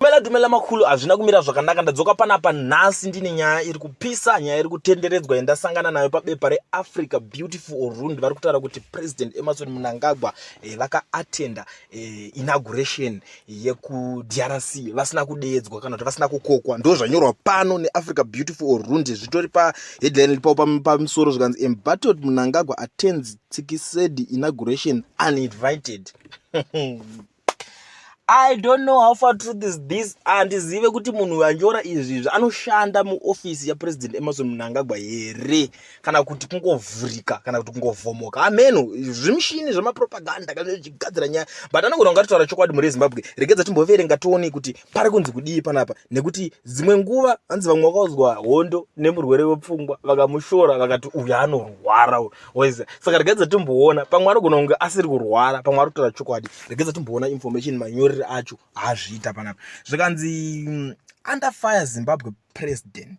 Dumela dumela makhulu hazvina kumira zvakanaka ndadzoka panapa nhasi ndine nyaya iri kupisa nyaya iri kutenderedzwa yandasangana nayo pabepa reAfrica Beautiful Orund vari kutaura kuti President Emerson Mnangagwa eh, vakaattenda eh, inauguration yekuDRC vasina kudeedzwa kana kuti vasina kukokwa ndo zvanyorwa pano neAfrica Beautiful Orund zvitori paheadline ripo pamusoro zvikanzi Embattled Mnangagwa attends Tsikisedi inauguration uninvited i don't know how far truth is this handizive kuti munhu anyora izvi izvi anoshanda muofisi yapresident emerson mnangagwa here kana kuti kungovhurika kana kuti kungovhomoka ameno zvimushini zvemapropaganda kana zvichigadzira nyaya but anogona kungatotaura chokwadi mhuri yezimbabwe regedza timboverenga tione kuti pari kunzi kudii panapa nekuti dzimwe nguva hanzi vamwe vakauzwa hondo nemurwere wepfungwa vakamushora vakati uyu anorwara waiza saka regai dzatimboona pamwe anogona kunge asiri kurwara pamwe ari kutora chokwadi regai dzatimboona information manyoreri acho haazviita panapa zvikanzi mm, under fire zimbabwe president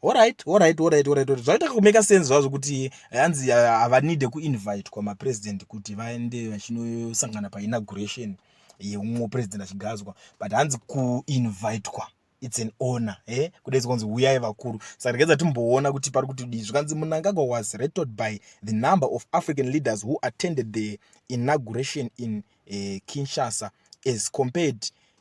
horit horit horit horit horit zvaita kumeka sense zvazvo kuti hanzi havanide kuinvitwa mapresident kuti vaende vachinosangana painauguration yeumwe president achigadzwa but hanzi kuinvitwa its an honor e eh? kudaidza kunzi huyai vakuru saka ndikadza timboona kuti pari kuti dii zvikanzi munangagwa was rated by the number of african leaders who attended the inauguration in uh, kinshasa as compared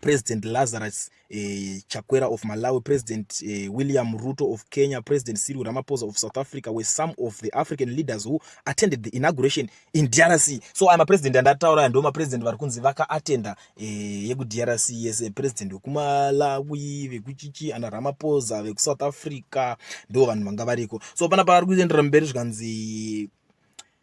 President Lazarus eh, Chakwera of Malawi, President eh, William Ruto of Kenya, President Cyril Ramaphosa of South Africa were some of the African leaders who attended the inauguration in DRC. So I'm a president and ataura ndo mapresident vari kunzi vakaattenda eh, yekuDRC yese president wekuMalawi, vekuchichi ana Ramaphosa vekuSouth Africa ndo vanhu vanga variko. So panapa vari kuendera mberi zvikanzi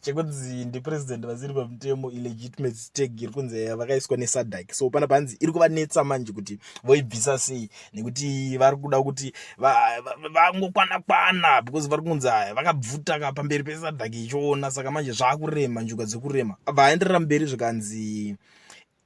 chekunzi ndipresident vasiri pamutemo ilegitimacy stag iri kunzi eh, vakaiswa nesadak so pana panzi iri kuvanetsa manje kuti voibvisa sei nekuti vari kuda kuti vangokwana kwana because vari kunzi aya vakabvuta ka pamberi pesadak ichiona saka manje zvaakurema njuga dzekurema vaenderera mberi zvikanzi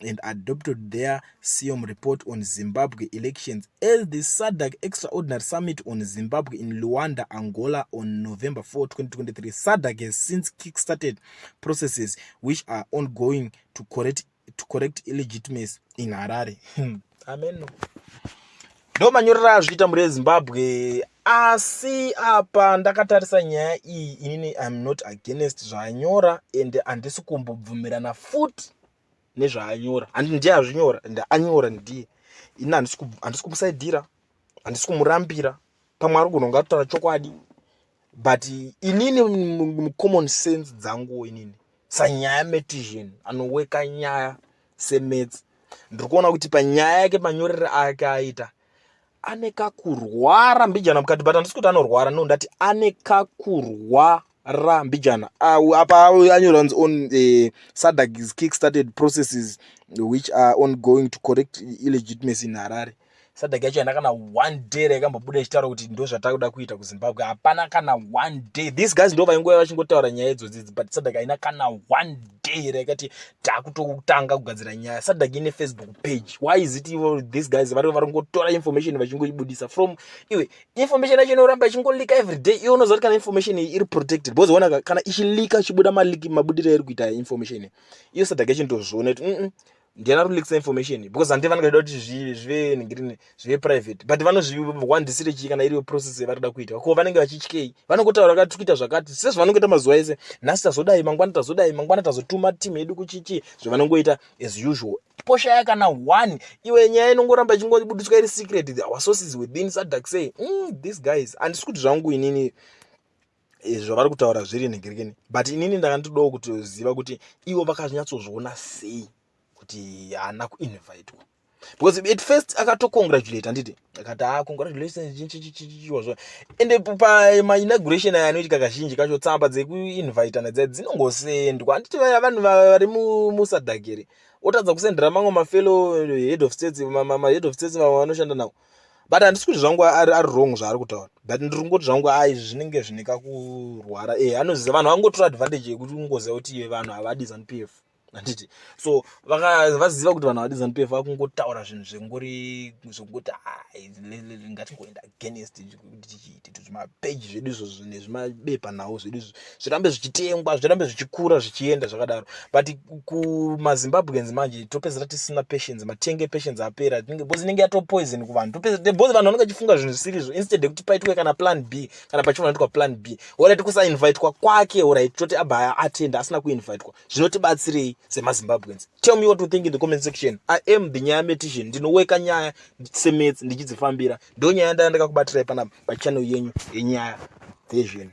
and adopted their SIOM report on Zimbabwe elections as the SADC Extraordinary Summit on Zimbabwe in Luanda, Angola on November 4, 2023. SADC has since kick-started processes which are ongoing to correct, to correct illegitimacy in Harare. Hmm. Amen. Ndo manyorera azviita muri eZimbabwe asi apa ndakatarisa nyaya iyi inini im not against zvaanyora ende handisi kumbobvumirana futi nezvaanyora and ndiye azvinyora and anyora ndiye ini handisi kumusaidhira handisi kumurambira pamwe ari kunonga atotaura chokwadi but inini mucommon sense dzanguwo inini sanyaya metision anoweka nyaya semetsi ndiri kuona kuti panyaya yake manyorere ake aita ane kakurwara mbijana mukati but handisi kuti anorwara no ndati ane kakurwara ra mbijana uh, apa anyora kunzi on uh, eh, sadag is kickstarted processes which are ongoing to correct illegitimacy in harare sadag yacho haina kana one day raikambobuda ichitaura kuti ndo zvatakuda kuita kuzimbabwe hapana kana one day these guys ndo vaingova vachingotaura nyaya idzodzi but sadag haina kana one day raikati takutotanga kugadzira nyaya sadhaki ine facebook page why is it ivo these guys vari vari kungotora information vachingoibudisa from iwe information yacho inoramba ichingolika every day iwe unoziva kuti kana information iyi iri protected because ona kana ichilika chibuda maliki mabudiro eri kuita information iyo sadhaki yachindozviona kuti mm, mm ndiana rulix information because handi vanenge vachida kuti zvive ningirine zve private but vanozviwandisire chii kana iriyo process yavari kuda kuita ko vanenge vachityei vanongotaura kuti tikuita zvakati sezvavanongoita mazuva ese nhasi tazodai mangwana tazodai mangwana tazotuma team yedu kuchichii zvavanongoita as usual poshaya kana one iwe nyaya inongoramba ichingobudiswa iri secret our sources within sadak say mm, these guys handisi kuti zvangu inini Eh, zvavari kutaura zviri nhegerekeni but inini ndakandidowo kutoziva kuti ivo vakazonyatsozviona sei kuti haana kuinvitwa because at first akatocongratulate handiti akati ah congratulationchichichichiwazvo and pamainauguration aya anoitika kazhinji kacho tsamba dzekuinvitana dzai dzinongosendwa handiti vaya vanhu vari musadhakeri otadza kusendera mamwe mafellow head of states mahead of states vamwe vanoshanda nawo but handisi kuti zvangu ari wrong zvaari kutaura but ndiri kungoti zvangu a izvi zvinenge zvine kakurwara e anoziva vanhu vangotora advantage yekuti ungoziva kuti vanhu havadi zanupf handiti so vaziva kuti vanhu vadizanup f vakungotaura zvinhu zvengori zvekuti ngatingoenda against tichiite kuti zvimapeji zvedu izvo nezvimabepa nhau zvedu izvo zvirambe zvichitengwa zvirambe zvichikura zvichienda zvakadaro but kumazimbabweans manje topedzera tisina patience matenge patience apera because inenge yatopoison kuvanhu topedza because vanhu vanenge vachifunga zvinhu zvisiri izvo instead yekuti paitwe kana plan b kana pachinoitwa plan b orit kusainvitwa kwake orit toti abva atenda asina kuinvitwa zvinotibatsirei semazimbabweans tell me what you think in the comment section i am the nyaya metician ndinoweka nyaya semets ndichidzifambira ndo nyaya ndaya ndakakubatirai panapa pachannel yenyu yenyaya dzezvinhu